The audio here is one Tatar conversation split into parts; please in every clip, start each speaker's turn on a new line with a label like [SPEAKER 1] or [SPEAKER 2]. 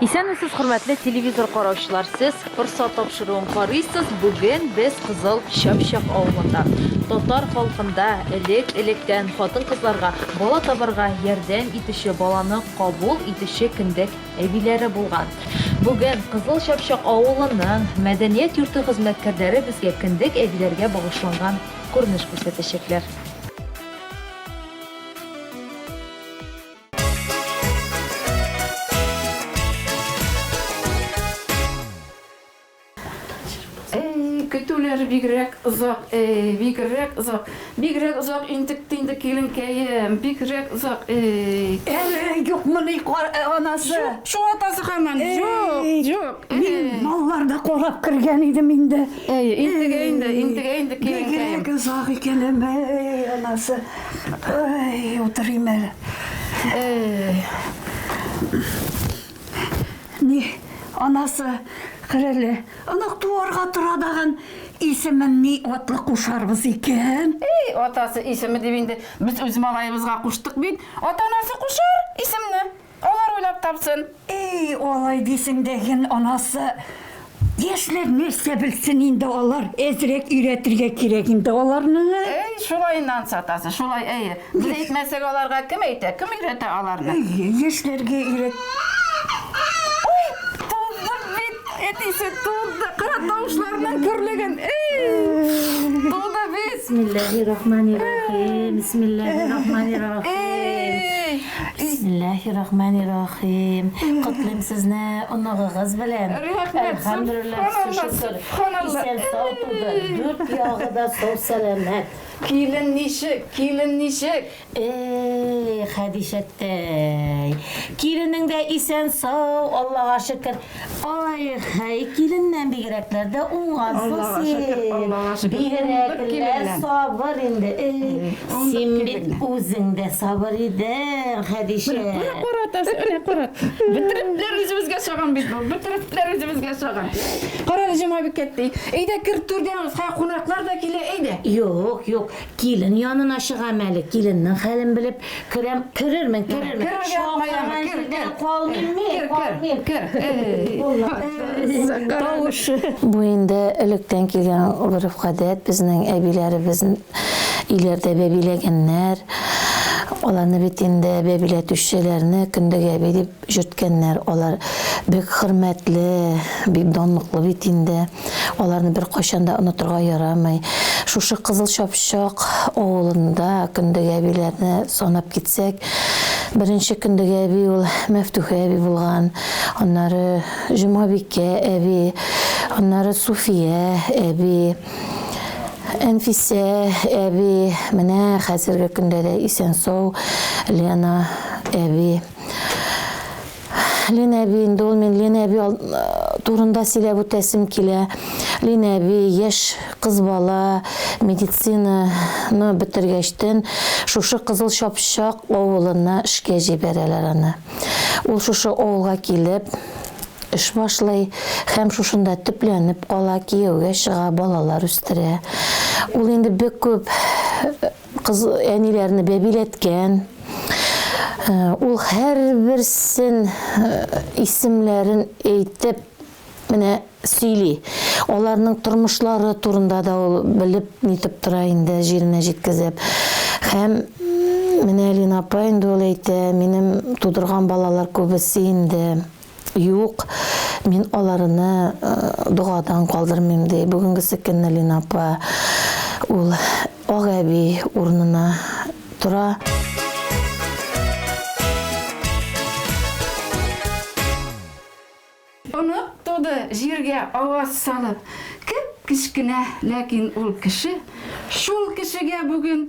[SPEAKER 1] Исәнмесез, хөрмәтле телевизор караучылар! Сез Форсат тапшыруын карыйсыз. Бүген без Кызыл Чапчак авылында. Татар халкында элек-электән хатын-кызларга бала табарга ярдәм итүче, баланы кабул итүче кендек әбиләре булган. Бүген Кызыл Чапчак авылының мәдәният йорты хезмәткәрләре безгә кендек әбиләргә багышланган күренеш күрсәтәчәкләр.
[SPEAKER 2] көтүләр бигрәк озак, эй, бигрәк озак. Бигрәк озак интек тинде киленкәем, бигрәк озак, эй. Әле
[SPEAKER 3] юк моны кар э, анасы. Шул атасы
[SPEAKER 2] хаман. Юк, юк. Мин малларда
[SPEAKER 3] корап кергән идем инде. Эй, интегә инде,
[SPEAKER 2] интегә инде киленкәем. Бигрәк озак икән,
[SPEAKER 3] эй, анасы. Ой, утырыйм әле. Эй. Ни, анасы, хәрәле, анак туарга тора даган исемен ни атлы кушарбыз икән? Эй, атасы
[SPEAKER 2] исеме дип инде без үз малаебызга куштык бит. Ата-анасы кушар исемне. Алар уйлап тапсын. Ий, алай
[SPEAKER 3] дисең дә ген анасы. Яшьләр нәрсә белсен инде алар, әзрәк өйрәтергә кирәк инде аларны. Әй, шулай Нанс
[SPEAKER 2] атасы, шулай, әйе. Без әйтмәсәк аларга кем әйтә, кем өйрәтә аларны? Әйе, яшьләргә
[SPEAKER 3] өйрәт. Ой, туды
[SPEAKER 2] бит, әтисе туды, кара тавышларның көрлеген, ий, туды бит. Бисмиллаһи рахмани
[SPEAKER 4] рахим, бисмиллаһи рахмани рахим. Ий. Бисмиллаһи рахмани рахим Котлыйм сезне оныгыгыз белән Әлхәмдүлилләһ шөкер исән сау туды Дүрт ягы да сау сәламәт. Килен
[SPEAKER 2] ничек? Килен ничек? Эй
[SPEAKER 4] Хәдичәттәй. Киленең дә исән сау Аллага шөкер. Ай, хәй, киленнән бигрәкләр дә уңгансың
[SPEAKER 2] син. Бигрәкләр
[SPEAKER 4] сабыр инде. Син бит үзең дә сабыр идең, Хәдичә. Менә карат, менә
[SPEAKER 2] карат. Бөтерекләр үзебезгә чаган бит бу. Бөтерекләр үзебезгә чаган. Кара, Җомабикә әти, әйдә кер түргә, кунаклар да килә, әйдә. Юк, юк,
[SPEAKER 4] Килен янына чыгам әле, киленнең хәлен белеп керәм. Керермен, керермен. Керергә куяма, кер, кер. Калмыйм мин, калмыйм. Кер, кер. Тавыш. Бу инде электән килгән гореф-гадәт, безнең әбиләребез өйләрдә бәбиләгәннәр. Аларны бит инде бәбиләтүчеләрне Көндәг әби дип Йөрткәннәр, алар бик хөрмәтле, бик данлыклы бит инде, аларны беркайчан да онытырга ярамый. Шушы Кызыл Чапчак авылында Көндәге әбиләрне санап китсәк, беренче Көндәге әби ул Мәфтүхә әби булган, аннары Җомабикә әби, аннары Суфия әби, Әнфисә әби, менә хәзерге көндә дә исән-сау Лена әби. Лен әби, инде ул мин Лен әби турында сөйләп үтәсем килә. Лен әби, яшь кыз бала, медицинаны бетергәчтен, шушы Кызыл Чапчак авылына эшкә җибәрәләр аны. Ул шушы авылга килеп, эш башлый һәм шушында төпләнеп кала, кияүгә чыга, балалар үстерә. Ул инде бик күп Кыз әниләрне бәбиләткән. Ул һәрберсен исемләрен әйтеп менә сөйли. Аларның тормышлары турында да ул белеп нитеп тора инде, җиренә җиткезеп. Һәм менә Лина апа инде ул әйтә, минем тудырган балалар күбесе инде Юк, мин аларыны догадан калдырмыйм, ди бүгенгесе көнне Лина апа. Ул ак әби урынына тора.
[SPEAKER 2] Онык туды, җиргә аваз салып. Кеп-кечкенә, ләкин ул кеше. Шул кешегә бүген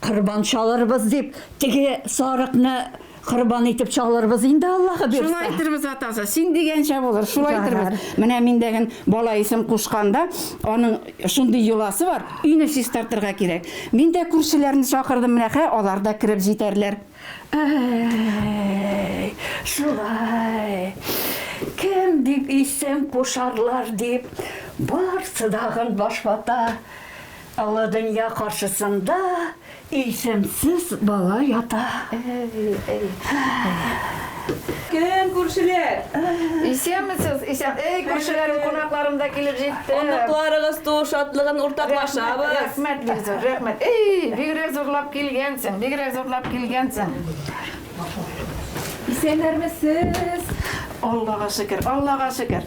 [SPEAKER 3] Корбан чалырбыз дип, теге сарыкны корбан итеп чалырбыз инде, Аллаһы бирса. Шулай итәрбез,
[SPEAKER 2] атасы,
[SPEAKER 3] син
[SPEAKER 2] дигәнчә булыр, шулай итәрбез. Менә мин
[SPEAKER 3] дәген
[SPEAKER 2] бала исем кушканда, аның шундый йоласы бар, өйне чистартырга кирәк. Мин дә күршеләрне чакырдым, менә хә, алар да кереп җитәрләр. Әй,
[SPEAKER 3] шулай. Кем дип исем кушарлар дип, барсы дагын баш вата. Олы дөнья каршысында исемсез бала ята.
[SPEAKER 5] Кем, күршеләр? Исәнмесез,
[SPEAKER 2] исән. Эй, күршеләрем, кунакларым да килеп җитте. Оныкларыгыз туу
[SPEAKER 5] шатлыгын уртаклашабыз. Рәхмәт, Гөлзур,
[SPEAKER 2] рәхмәт. Эй, бигрәк зурлап килгәнсең, бигрәк зурлап килгәнсең.
[SPEAKER 5] Исәннәрмесез! Аллага
[SPEAKER 2] шөкер, Аллага шөкер!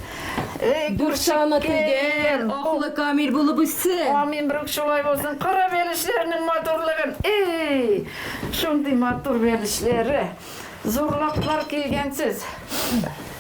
[SPEAKER 2] Дүртчаны
[SPEAKER 5] тигән, аклы камил булып үссен! Амин, брук шулай
[SPEAKER 2] булсын, кара бәлешләрнең матурлыгын, эй! Шундый матур бәлешләре, зурлыклар килгәнсез.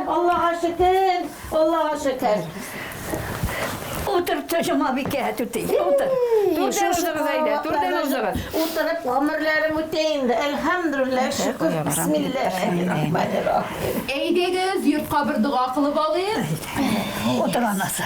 [SPEAKER 6] Аллага шөкер, Аллага шөкер.
[SPEAKER 3] Утыр, төшемә бикә түти. Утыр. Турда узыгыз
[SPEAKER 2] әйдә, турда узыгыз. Утырып гомерләрем
[SPEAKER 6] үтә инде. Әлхәмдүлилләһ, шөкер. Бисмиллаһир-рахманир-рахим. Әйдәгез, йортка
[SPEAKER 1] бер дога кылып алыйк. Утыр
[SPEAKER 3] анасы.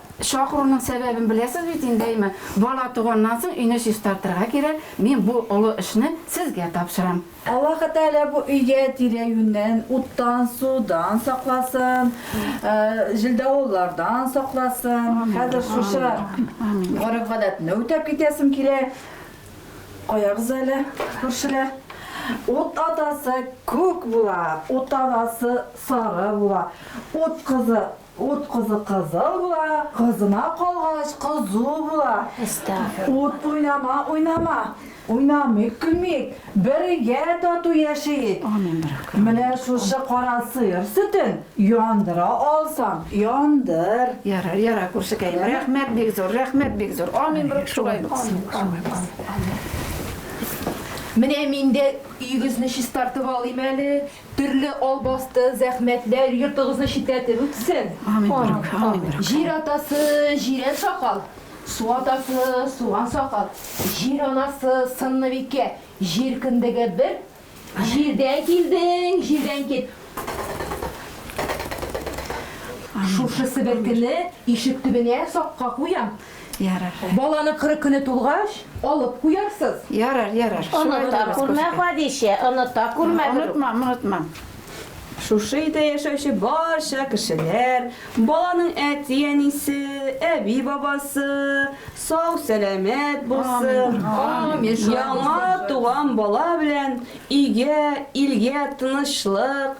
[SPEAKER 2] Чакыруның сәбәбен беләсез бит инде, әйме? Бала туганнан соң өйне чистартырга кирәк, мин бу олы эшне сезгә тапшырам. Аллаһы Тәгалә
[SPEAKER 5] бу өйгә тирә-юньнән уттан, судан сакласын, җилдавыллардан сакласын. Хәзер шушы гореф-гадәтне үтәп китәсем килә. Куябыз әле, күршеләр. Ут атасы күк була, ут абасы сары була, ут кызы Ут кызы кызыл була, кызына калгач кызу була. Ут уйнама, уйнама. Уйнамыйк, көлмик, бергә тату яшиек. Менә шушы кара сыер сөтен яндыра алсаң, яндыр. Ярар, ярар,
[SPEAKER 2] күршекәем, рәхмәт бик зур, рәхмәт бик зур. Амин, брат, шулай булсын.
[SPEAKER 1] Менә мин дә өегезне чистартып алыйм әле, Төрле албасты, зәхмәтләр йортыгызны читләтеп үтсен!
[SPEAKER 2] Җир атасы,
[SPEAKER 1] җирән сакал, су атасы, суган сакал, җир анасы, сынныбикә, җир кендеге бер, җирдән килдең, җирдән кит! Шушы себеркене ишек төбенә сакка куям. Ярар.
[SPEAKER 2] Баланың кырык көне
[SPEAKER 1] тулгач, алып куярсыз. Ярар, ярар.
[SPEAKER 2] Оныта күрмә,
[SPEAKER 6] Хәдичә, оныта күрмә. Онытмам, онытмам.
[SPEAKER 5] Шушы өйдә яшәүче барча кешеләр, баланың әти-әнисе, әби-бабасы сау-сәламәт булсын,
[SPEAKER 1] яңа
[SPEAKER 5] туган бала белән өйгә, илгә тынычлык,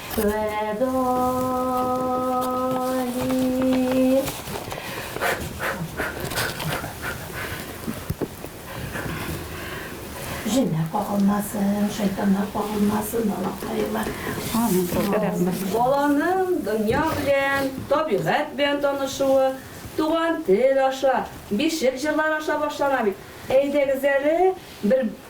[SPEAKER 6] Җеннәр кагылмасын, шайтаннар
[SPEAKER 2] кагылмасын,
[SPEAKER 6] балакайлар. Амин. Баланың
[SPEAKER 7] дөнья белән, табигать белән танышуы туган тел аша, бишек җырлары аша башлана бит. Әйдәгез әле бер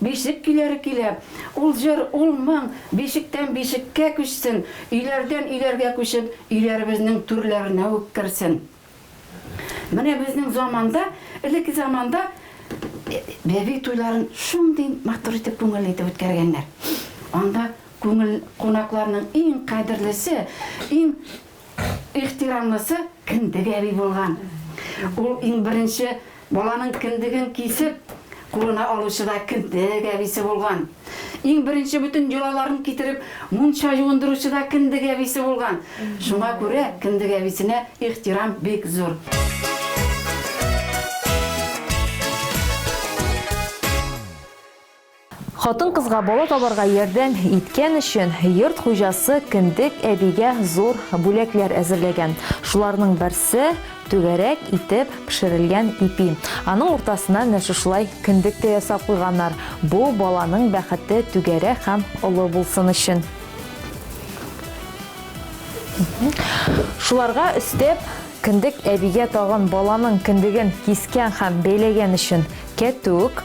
[SPEAKER 2] Бишек көйләре көйләп, ул җыр, ул моң бишектән бишеккә күчсен, өйләрдән өйләргә күчеп, өйләребезнең түрләренә үк керсен. Менә безнең заманда, элекке заманда бәби туйларын шундый матур итеп, күңелле итеп үткәргәннәр. Анда күңел, кунакларның иң кадерлесе, иң. ихтирамлысы Кендек әби булган. Ул иң беренче баланың кендеген кисеп, кулына алучы да Кендек әбисе булган. Иң беренче бөтен йолаларын китереп, мунча юындыручы да Кендек әбисе булган. Шуңа күрә Кендек әбисенә ихтирам бик зур.
[SPEAKER 1] Хатын-кызга бала табарга ярдәм иткән өчен йорт хуҗасы кендек әбигә зур бүләкләр әзерләгән. Шуларның берсе, түгәрәк итеп пешерелгән ипи. Аның уртасына менә шушылай кендек тә ясап куйганнар, бу баланың бәхете түгәрәк һәм олы булсын өчен. Шуларга өстәп, кендек әбигә тагын баланың кендеген кискән һәм бәйләгән өчен кәтүк.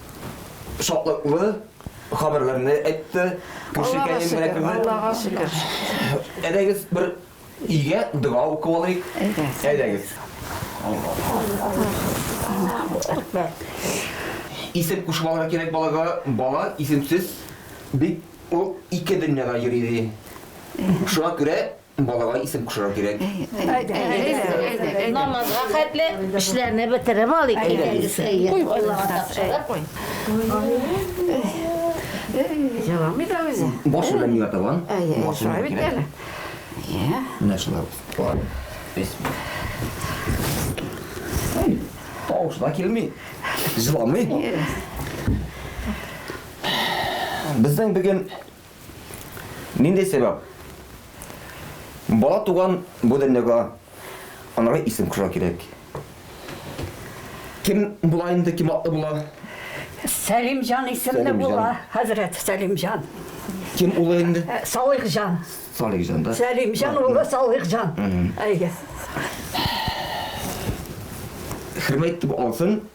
[SPEAKER 8] шатлыклы хәбәрләрне әйтте. Күршекәем белән
[SPEAKER 2] кебек. Аллага шөкер. Әйдәгез
[SPEAKER 8] бер игә дога укып алыйк. Әйдәгез. Исем кушмалары кирәк балага. Бала исемсез бик ул ике дөньяда йөри ди. Шуңа күрә Балага исем кушырга кирәк.
[SPEAKER 6] Намазга хәтле эшләрне бетереп алыйк инде. Куй балага тапшырып куй. Җыламый да
[SPEAKER 2] үзе. Баш белән миңа табан.
[SPEAKER 8] Шулай бит әле.
[SPEAKER 2] Менә
[SPEAKER 8] шулай. Тавышы да килми. Җыламый. Безнең бүген Нинди сәбәп? Бала туган бу дөньяга анага исем кушырга кирәк. Кем була инде, кем атлы була? Сәлимҗан
[SPEAKER 3] исемле була, хәзрәт Сәлимҗан. Кем улы
[SPEAKER 8] инде? Э, Салихҗан.
[SPEAKER 3] Салихҗан да.
[SPEAKER 8] Сәлимҗан улы
[SPEAKER 3] Салихҗан. Әйе.
[SPEAKER 8] Хөрмәт итеп алсын.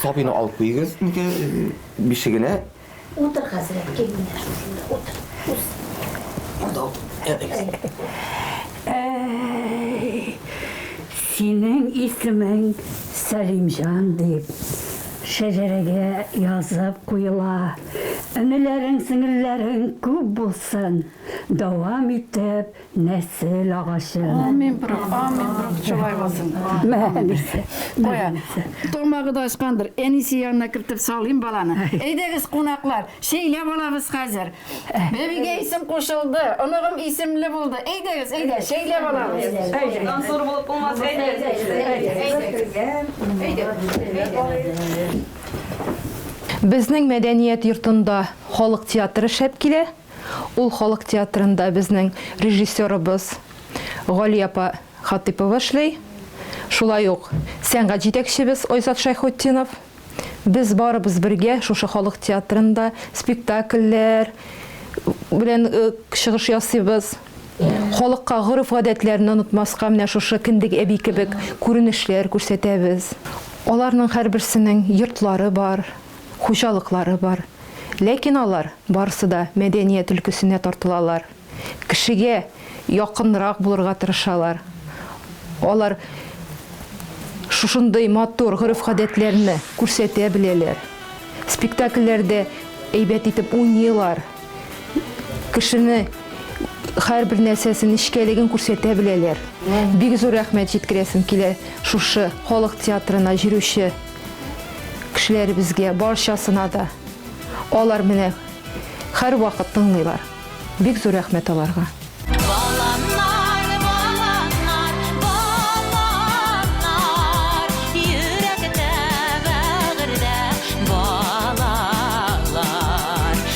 [SPEAKER 8] Сабины алып куйыгыз. Бишегенә Утыр, хәзрәт,
[SPEAKER 6] кил менә шушында
[SPEAKER 3] утыр. Үз. Анда утыр. Синең исемең Сәлимҗан дип шәҗәрәгә язып куела. Энеләрең, сеңелләрең күп булсын, дәвам итеп Нәсел агачы. Амин, брат,
[SPEAKER 2] амин, брат, шулай булсын. Мәнисе.
[SPEAKER 3] Кая?
[SPEAKER 2] Тамагы да ачкандыр. Әнисе янына кертеп салыйм баланы. Әйдәгез, кунаклар, шәйләп алабыз хәзер. Бәбигә исем кушылды, оныгым исемле булды. Әйдәгез, әйдә, шәйләп алабыз. Әйдә. Зур булып
[SPEAKER 7] булмас, әйдә.
[SPEAKER 9] Безнең мәдәният йортында халык театры шәп килә. Ул халык театрында безнең режиссерыбыз Гали апа Хатыйпова эшли. Шулай ук сәнгать җитәкчебез Айзат Шәйхутдинов. Без барыбыз бергә шушы халык театрында спектакльләр белән чыгыш ясыйбыз. Халыкка гореф-гадәтләрне онытмаска менә шушы Кендек әби кебек күренешләр күрсәтәбез. Аларның һәрберсенең йортлары бар. хуҗалыклары бар, ләкин алар барысы да мәдәният өлкәсенә тартылалар, кешегә якынрак булырга тырышалар, алар шушындый матур гореф-гадәтләрне күрсәтә беләләр, спектакльләрдә әйбәт итеп уйныйлар, кешене һәрбер нәрсәсе нечкәлеген күрсәтә беләләр. Бик зур рәхмәт җиткерәсем килә шушы халык театрына җөрүче. Кешеләребезгә барчасына да алар менә һәрвакыт тыңлыйлар. Бик зур рәхмәт аларга.